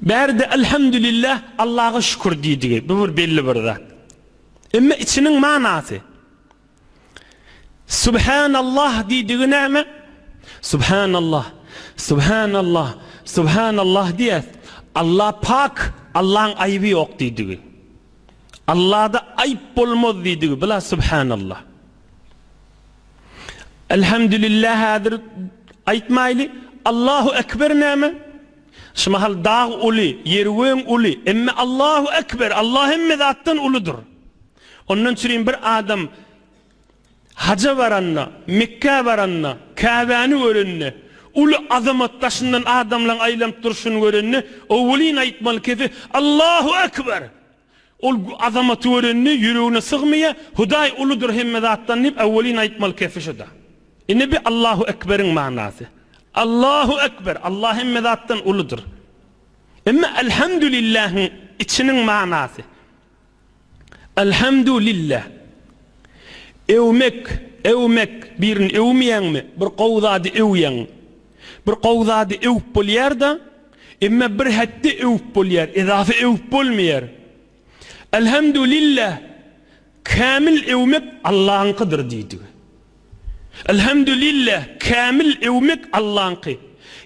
Bärde Elhamdülillah, Allaha şükür diýdigi, bu bir belli bir zat. Emma içiniň manasy. Subhanallah diýdigi näme? Subhanallah, Subhanallah, Subhanallah diýýäs. Allah pak, Allaň aýby ýok diýdigi. Allahda aýp bolmaz diýdigi, bila Subhanallah. Elhamdülillah häzir aýtmaýly. Allahu ekber näme? Şu mahal dag uly, ýeröň uly, emma Allahu ekber, Allah hemme zatdan uludyr. Ondan çürin bir adam haja baranda, Mekgä baranda, Käbäni görende, uly azamat daşyndan adamlaryň aýlanyp durşuny görende, owelin aýtmaly kesi, Allahu ekber! Ol azamaty görende ýüregine sygmaýa, Hudaý uludyr hemme zatdan diýip äwwelin aýtmaly kesi şuda. Ine bi Allahu Ekberiň manasy. Allahu Ekber, Allah hemme zatdan uludyr. Emma Elhamdulillähiň içiniň manasy. Elhamdu lilläh. Öwmek, äwmek, birini öwmeýäňmi, bir gowy zady öwýäň. Bir gowy zady öwüp bolýar-da, emma bir hetde öwüp bolýar, edafa öwüp bolmaýar. Elhemdülillah, kämil öwmek Allaňkydyr diýdigi. Elhemdülillah, kämil öwmek Allaňky.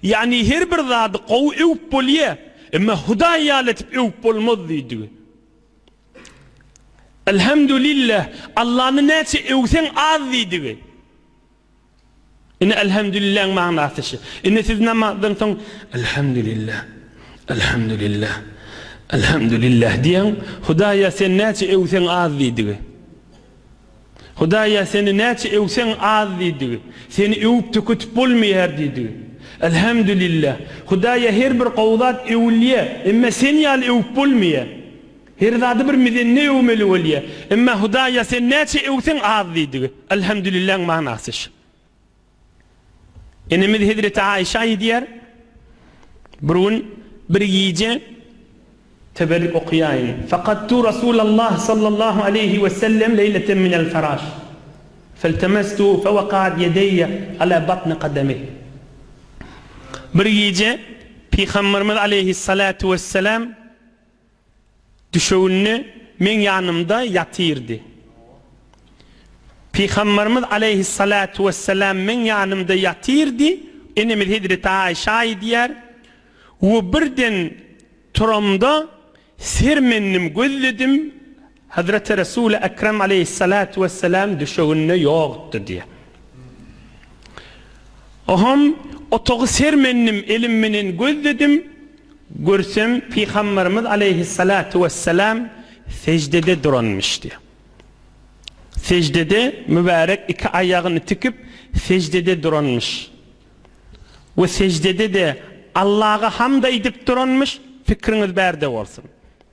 Ýagny her bir zady gowy öwüp bolýar, emma Hudaý ýaly edip öwüp bolmaz diýdigi. Elhemdülillah, Allany näçe öwseň az diýdigi. Ine Elhemdülilläň manasy şu. Ine siz namazdan soň Elhemdülillah, Elhemdülillah, Elhemdülillah diýeň, Hudaýa sen näçe öwseň az diýdigi. Hudaýa seni näçe öwseň az diýdigi. Seni öwüp tüketip bolmaýar diýdigi. Elhemdülillah. Hudaýa her bir gowy zat öwülýär, emma sen ýaly öwüp bolmaýar. Her zady bir mizende öwmeli bolýa. Emma Hudaý ýa sen näçe öwseň az diýdigi. Elhamdülilläň manasy şu. Enemiz hezreti Aişa aýdýar, Bir gün bir gije teberrük okaýaýyn. Faqattu Rasulallah sallallahu aleýhi we sellem leýleten minel feraş. Feltemestuhu fewaqaat ýedeýe ala batni qademih. Bir gije Pygamberimiz aleýhissalatu wessalam Düşewünde meň ýanymda ýatyrdy. Pygamberimiz aleýhissalatu wessalam meň ýanymda ýatyrdy, enemiz hezreti Aýşe aýdýar, we birden turamda sermendim gözledim, Hezreti Resul-i Ekrem aleýhissalatu wesselam düşeginde ýokdy diýýär. Oňam otagy sermendim, elim menen gözledim, görsem Pygamberimiz aleýhissalatu wesselam seždede duranmyş diýýär. Seždede mübärek iki aýagyny tikip seždede duranmyş. We seždede-de Allaga hamd aýdyp duranmyş, pikriňiz bärde bolsun.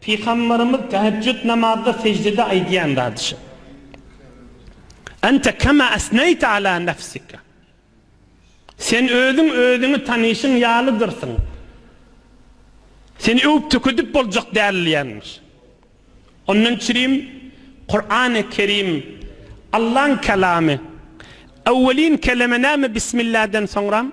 Pygamberimiz tähejjüt namazda seždede aýdýan zady şu. Ente kema esneýte ala nefsike. Sen özüň özüňi tanyşyň ýalydyrsyň. Seni öwüp tökedip boljak däl diýenmiş. Ondan çirim Kurany Kerim Allaň kelamy. Öwwelin keleme näme bismilläden soňram?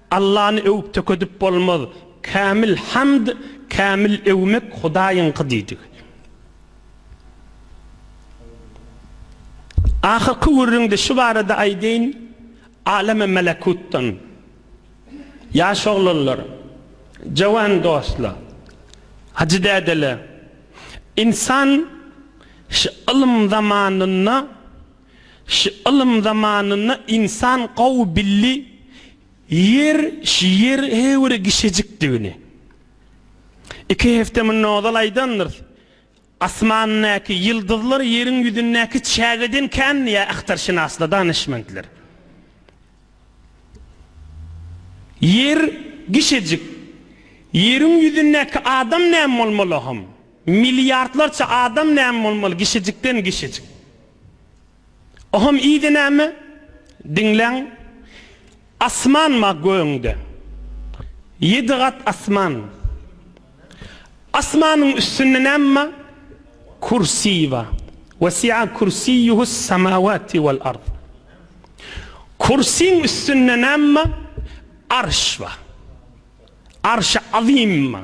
Allany öwüp tökedip bolmaz, kämil hamd, kämil öwmek Hudaýyňky diýdik. Ahyrky gürrüňde şu barada aýdaýyn, Aleme melekutdan, ýaş oglanlar, jowan dostla, hajy dädele, ynsan şu ylym zamanynda, Ş ylym zamanynda ynsan gowy bildi Ýer ş ýer he bir gişejikdigini. Iki hefte munda ozal aýdandyrys, Asmandaky ýyldyzlar Ýeriň ýüzündäki çägeden kän diýýär ahtarşynaslar, danyşmentler. Ýer gişejik. Ýeriň ýüzündäki adam näme bolmaly hom? Milliardlarça adam näme bolmaly gişejikden gişejik. Oham iýdi näme? Diňläň. Asman ma gögüňde. Ýedi gat asman. Asmanyň üstünde näme ma? Kürsi ba. Wesi'a kürsiýuhus samawati wal ard. Kürsiň üstünde näme ma? Arş ba. Arşy azym ma.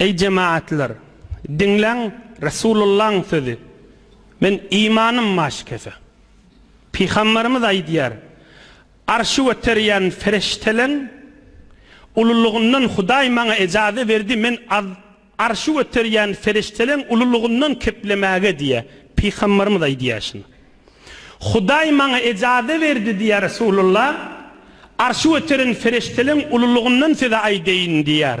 Eý jemaatlar! Diňläň Resulullahyň sözi, Men imanym maşgese. Pygamberimiz aýdýar, Arşy göterýän Ferişteleň ululygyndan Hudaý maňa ejaze berdi, men Arşy göterýän Ferişteleň ululygyndan keplemäge diýýär. Pygamberimiz aýdýar şuny. Hudaý maňa ejaze berdi diýýär Resulullah, Arşy göteren Ferişteleň ululygyndan size aýdaýyn diýýär.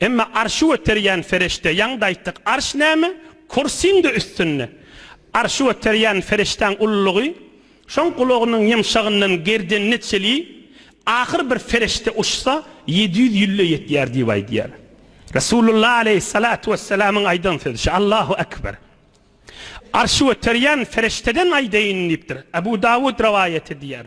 Emma arşy göterýän ferişde ýaňda aýtdyk arş näme? Kursiň-de üstünde. Arşy göterýän ferişdäň ululygy şoň gulagynyň ýumşagyndan gerdenine çeli ahyr bir ferişde uçsa ýedi ýüz ýülle ýetýär diýip aýdýar. Resulullah aleýhissalatu wesselamyň aýdan sözi şu Allahu ekber. Arşy göterýän ferişdeden aýdaýyn diýipdir. Abu Dawud rowaýat edýär.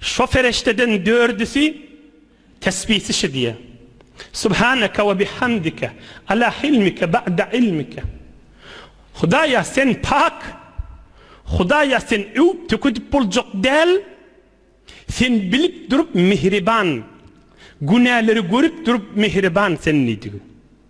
Şo perişdeden dördüsi tesbih çişidýä. Subhaneke we bihamdike ala hilmike ba'de ilmike. Hudaýa Sen pak, Hudaýa Sen öwüp-tökedip boljak däl, Sen bilip durup mihriban, günäleri görüp durup mihriban Sen diýdigi.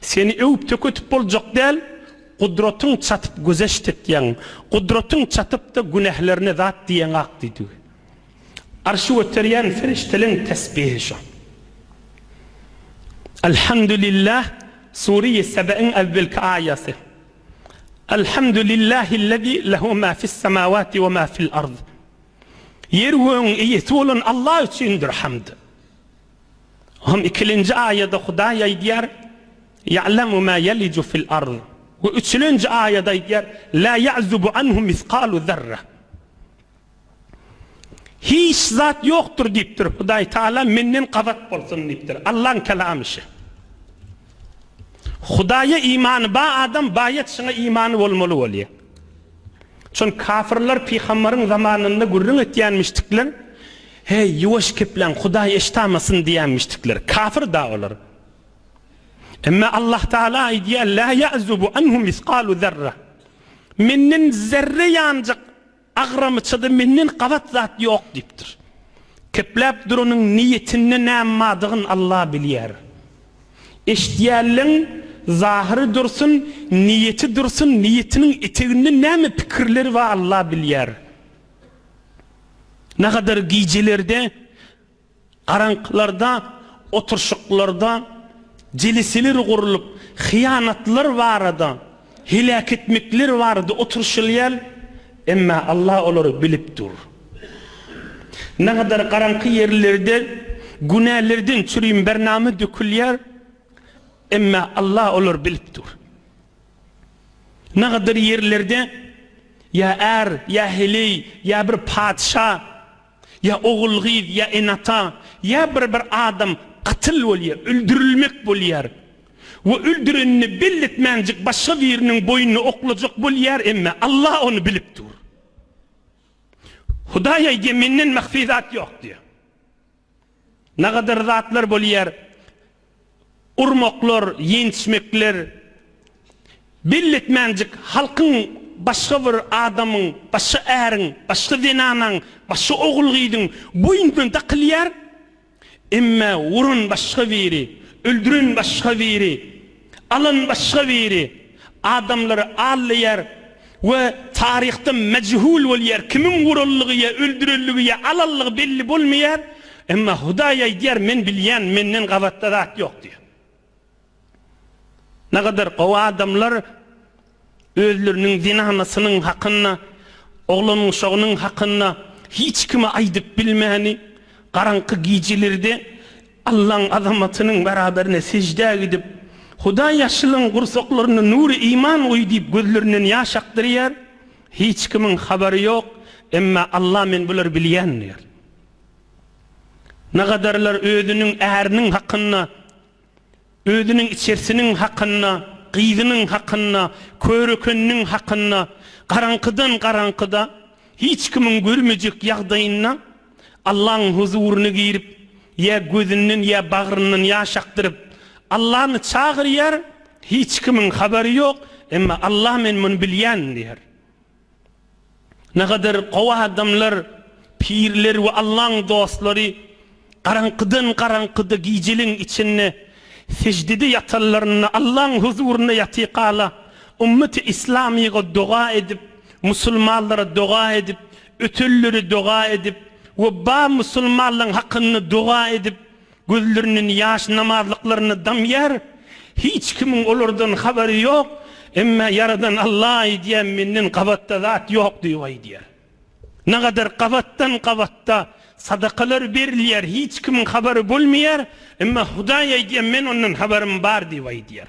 Seni öwüp-tökedip boljak däl, Gudratyň çatyp gözeşt etýäň, Gudratyň çatyp-da günählerine zat diýeňak diýdigi. Arşy göterýän perişdeleň tesbihi şo. Elhamdülillah Sure-i Sebe'iň äwwelki aýaty. Elhamdülillahillezî lehu mâ fissemâwâti ve mâ fil-ard. Ýer-gögüň eýesi bolan Allah üçindir hamd. On ikilinji aýada Hudaý aýdýar, Ýa'lemu ma ýelicu fil arz. We üçülinji aýada aýdýar, La ýa'zubu anhu misgalu zerra. Hiç zat ýokdur diýipdir Hudaý Tagala menden gabat bolsun diýipdir. Allaň kelamy şu. Hudaýa imany ba adam baýat şuňa imany bolmaly bolýar. Şon kafirler pygambaryň zamanynda gürrüň etýänmişdikler. Heý, ýuwaş kepläň, Hudaý eşitamasyn diýämişdikler. Kafir-da olar. Emma Allahtagala aýdýar, Lâ ya'zubu anhu misgalu zerra. Menden zerre ýanjyk agramçada Menden gabat zat ýok diýipdir. Kepläp duranyň niýetinde näm madygyn Alla bilýär. Eşidýänleň zahyry dursun, niýeti dursun, niýetiniň eteginde näme pikirleri bar Alla bilýär. Nagadar gijelerde, garaňkylarda, oturşyklarda jeliseler gurlup, hyýanatlar barada, heläk etmekler barada oturşylýar, emma Allah olary bilip dur. Nagadar garaňky ýerlerde günälerden çürim bernama dökülýär, emma Allah olary bilip dur. Nagadyr ýerlerde ýa är, ýa heleý, ýa bir patyşa, ýa ogul-gyz, ýa ene-ata, ýa bir-bir adam katyl bolýar, öldürilmek bolýar we öldürenini belli etmänjik başga biriniň boýnuny oklajak bolýar, emme Alla ony bilip dur. Hudaý aýdýar, Menden mahfi zat ýok diýýär. Nagadar zatlar bolýar, urmaklar, ýençmekler. Belletmänjik halkyň başga bir adamyň, başga äriň, başga zenanaň, başga ogul-gyzyň boýnuna dakylýar. Emma uran başga biri, öldüren başga biri. Alan başga biri adamlary allaýar we taryhda mejhul bolýar, kimiň uranlygy ýa öldürendigi ýa alanlygy belli bolmaýar, emma Hudaý aýdýar, men bilýän, menden gabatda zat ýok diýýär. Nägadar gowy adamlar. Özleriniň zenanasynyň hakynda, oglanuşagynyň hakynda hiç kime aýdyp bilmäni, garaňky gijelerde Allaň azamatynyň beraberine seždä gidip, Hudaý ýaşlyň gursaklaryna nury iman guý diýip gözlerinden ýaş akdyrýar. Hiç kimiň habary ýok, emma Alla men bulary bilýän diýýär. Nagadarlar özüniň äriniň hakynda. Özüniň içersiniň hakynda, gyzynyň hakynda, körekeniniň hakynda garaňkydan garaňkyda, hiç kimiň görmejek ýagdaýynda Allaň huzuryna girip, ýa gözünden, ýa bagryndan ýaş akdyryp, Allany çagyrýar, hiç kimiň habary ýok, emma Alla men muny bilýän diýýär. Nähadar gowy adamlar, pirler we Allaň dostlary garaňkydan garaňkyda gijeliň içinde seždede ýatanlarynda Allaň huzurynda ýatyka-la ummeti islamyga doga edip, musulmanlara doga edip, ötenlere doga edip we bar musulmanlaň hakynda doga edip, Gözlerinden ýaş namazlyklaryny damýar, hiç kimiň olardan habary ýok, emma Ýaradan Alla aýdýar, menden gabatda zat ýok diýip aýdýar. Nagadar gabatdan gabatda sadakalar berilýär, hiç kimiň habary bolmaýar, emma Hudaý aýdýar, men ondan habarym bar diýip aýdýar.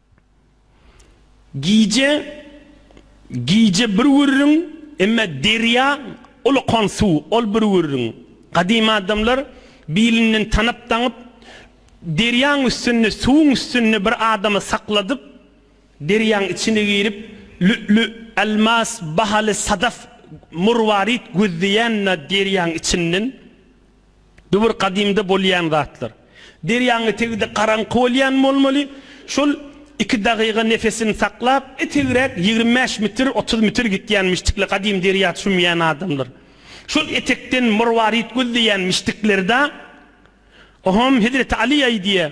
Gije, gije bir gürrüň, emme derýa uly kon suw, ol bir gürrüň. Gadymy adamlar bilinden tanap-daňyp, derýaň üstünde, suwuň üstünde bir adamy sakladyp, derýaň içine girip, lü'lü, elmas, bahaly sadaf, murwarit gözleýän-ä derýaň içinden. Bu bir gadymda bolýan zatlar. Derýaň etegi-de garaňky bolýan bolmaly. Şol iki dagyga nefesini saklap, etegräk ýigrimi bäş metr, otuz metr gitýänmişdikler, gadym derýa çümýän adamlar. Şol etekden Morwaryt gözleýänmişdikler-da. Ohom, hezreti Aly aýdýar.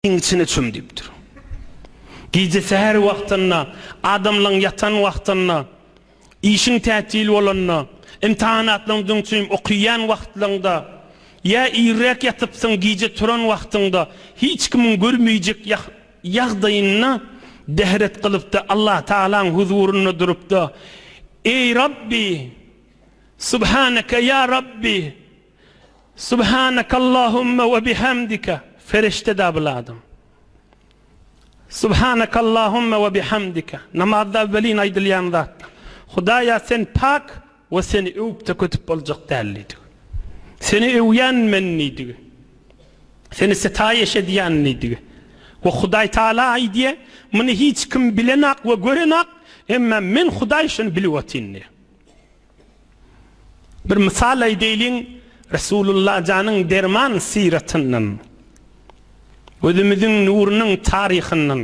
Iň içine çüm diýipdir. Gije säher wagtynda, adamlaryň ýatan wagtynda, işiň tätil bolanda, imtahanatlaryň öňünden çüm okaýan wagtlaryňda, ýa irräk ýatypsyň, gije turan wagtyňda, hiç kimiň görmeýjek ýagdaýynda dehret gylypda Allatagalaň huzurynda durupda, Eý Rabbi! Subhaneke ýa Rabbi! Subhanakallahumma we bihamdika, Ferişte dabyly adam. Subhanakallahumma we bihamdika, Namazda welin aýdylýan zat. Hudaýa Sen pak we Seni öwüp-de kötüp boljak däl diýdigi. Seni öwýän men diýdigi. Seni setaýyş edýän diýdigi. We Hudaý Taala aýdýa, Muny hiç kim bilenak we görenak, emma Men Hudaý şony bilip otyn diýýa. Bir mysal aýdaýlyň, Resulullah janyň derman syratyndan, gözümiziň nurunyň taryhyndan,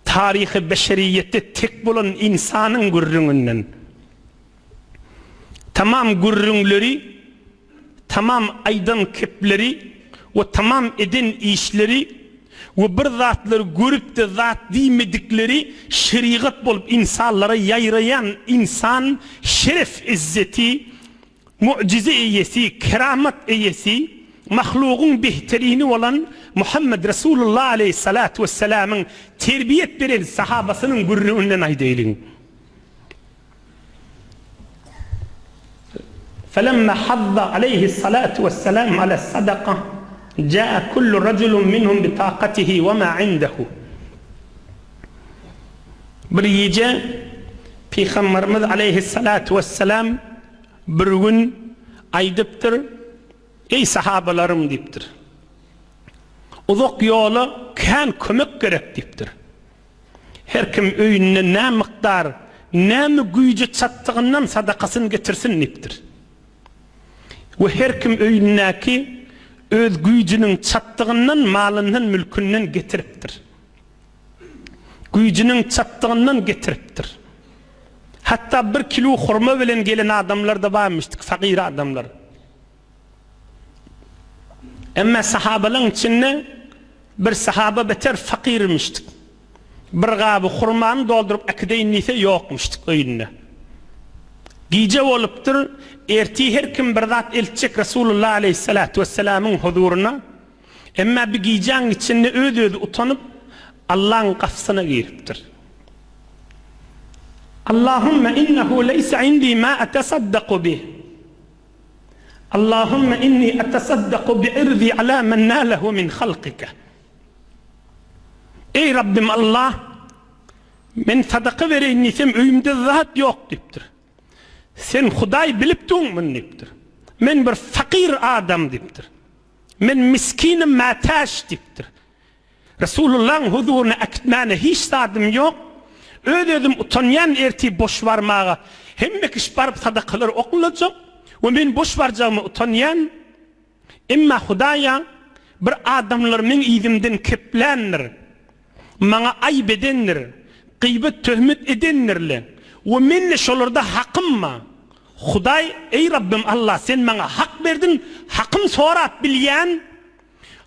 taryhy beşeriýete tek bolan ynsanyň gürrüňinden. Tamam gürrüňleri. Tamam aýdan kepleri we tamam eden işleri we bir zatlary görüp-de zat diýmedikleri şerigat bolup ynsanlara ýaýraýan ynsan şeref-izzeti, mu'jize eýesi, keramat eýesi, mahlugyň behterini bolan Muhammet Resulullah aleýhissalatu wessalamyň terbiýet beren sahabasynyň gürrüňinden aýdaýlyň. Felemma hadda aleýhi salatu wessalam ala sadaka jaa kullu rajulun minhum bi taqatihi we ma indehu. Bir gije Pygamberimiz aleýhi salatu wessalam bir gün aýdypdyr, Eý sahabalarym diýipdir. Uzak ýola kän kömek gerek diýipdir. Her kim öýünde nä mukdar, näme güýji çatdygyndan sadakasyny getirsin diýipdir. We her kim öýündäki öz güýjüniň çatdygyndan malyndan mülkünden getiripdir. Güýjüniň çatdygyndan getiripdir. Hatda bir kilu hurma bilen gelen adamlar-da barmyşdyk, fagyr adamlar. Emma sahabalaň içinde bir sahaba beter fakirmişdik. Bir gaby hurmany dolduryp äkideýin diýse ýokmuşdyk öýünde. Gije bolupdyr, ertir her kim bir zat eltjek Resulullah aleýhissalatu wessalamyň huzuryna. Emma bi gijäň içinde öz-özi utanyp, Allaň gapysyna giripdir. Allahumma innehu leýse indi ma atasaddaku bih. Allahümme inni etesaddaku bi irdi ala men nalehu min halkike. Eý Rabbim Allah, men sadaka bereýin diýsem öýümde zat ýok diýipdir. Sen Hudaý bilipdiň muny diýipdir. Men bir fakyr adam diýipdir. Men miskinim mätäç diýipdir. Resulullahyň huzuryna äkitmäne hiç zadym ýok. Öz özüm utanýan ertir boş barmaga. Hemme kişi baryp sadakalar oklajak we men boş barjagyma utanýan. Emma Hudaýa bir adamlar meň yzymdan kepländir. Maňa aýyp edendir. Gyýbat töhmet edendirle we mende şolarda hakym ba. Hudaý, eý Rabbym Allah sen maňa hak berdiň, hakym sorap bilýän.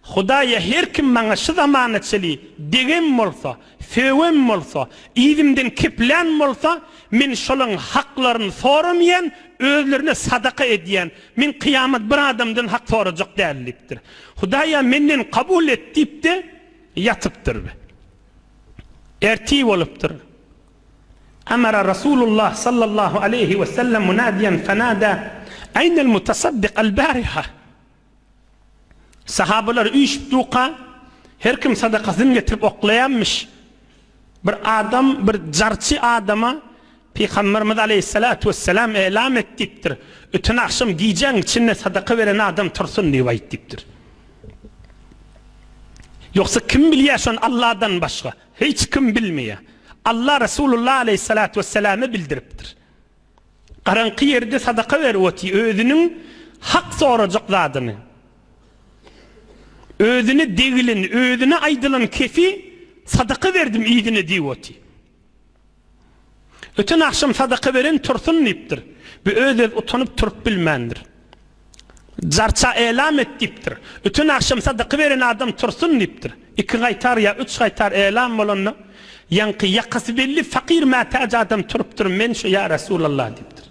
Hudaýa her kim maňa şu zamana çeli degem bolsa, sögem bolsa, yzymdan keplän bolsa, men şolaň haklaryny soramaýan, özlerine sadaka edýän. Men kyýamat bir adamdan hak sorajak däl diýipdir. Hudaýa menden kabul et diýip-de ýatypdyr. Ertir bolupdyr. Emara Rasulullah sallallahu aleýhi wesellem munadiýen fenada, Aýnel mutasaddyk al-bariha? Sahabalar üýşüpdüka, her kim sadakasyny getirip oklaýanmyş. Bir adam bir jarçy adama Pygamberimiz aleýhissalatu wesselam elam et diýipdir, Öten agşam gijäň içinde sadaka beren adam tursun diýip aýt diýipdir. Ýogsa kim bilýär şony Allahdan başga? Hiç kim bilmeýär. Allah Resulullah aleýhissalatu wesselame bildiripdir. Garaňky ýerde sadaka berip otyr, özüniň hak sorajak zadyny, özüne degileni, özüne aýdylan kefi sadaka berdim yzyna diýip otyr. Öten agşam sadaka beren Tursun diýipdir. Bu öz-öz utanyp turup bilmändir. Jarça elam et diýipdir. Ütün agşam sadaky beren adam tursun diýipdir. Iki gaýtar ýa üç gaýtar elam bolanda, ýaňky ýakasy belli fakyr mätäç adam turupdyr, Men şu, ýa Resulallah diýipdir.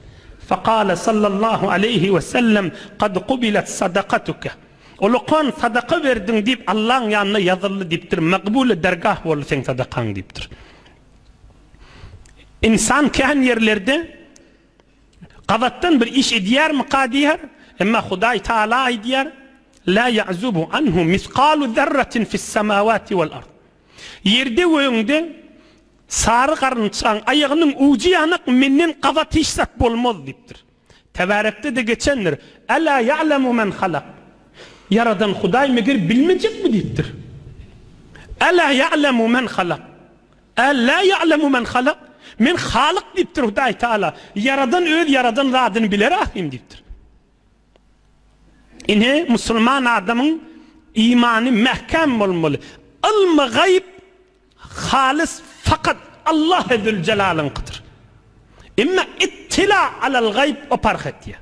Fakale sallallahu aleýhi we sellem, Kad kubilet sadakatuke. Ulukan sadaka berdiň diýip Allaň ýanynda ýazyldy diýipdir, Makbule dergah boldy seň sadakaň diýipdir. Ynsan kän ýerlerde. Gabatdan bir iş edýärmika diýýär. Emma Hudaý Taala aýdýar, La ýa'zubu anhu misgalu zerratin fissemawati wal ard. Ýerde we öňde sary garynçaň aýagynyň ujy ýanak Menden gabat hiç zat bolmaz diýipdir. Tebärekde-de geçendir, Ela ýa'lemu men halak. Ýaradan Hudaý meger bilmejekmi diýipdir. Ela ýa'lemu men halak. Älä ýa'lemu men halak, Men Halyk diýipdir Hudaý Tagala, Ýaradan öz ýaradan zadyny biler ahyryn diýipdir. Ine, musulman adamyň imany mäkäm bolmaly. Ylmy gaýyp halys fakat Allahe zülzelalyňkydyr. Emma ittila alal gaýyp o parh etýär.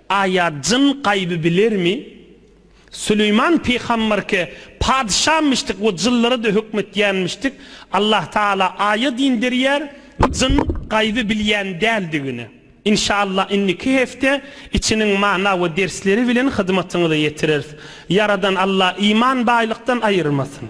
Aýa jyn gaýby bilermi? Süleýman pygamberke padyşamyşdyk we jynlara-da hökm etýänmişdik. Allah Taala aýa din berýär, jyn gaýby bilýän däldigini. Inşallah indiki hepde içiniň mana we dersleri bilen hyzmatyňyza ýetireris. Ýaradan Allah iman baýlykdan aýyrmasyn.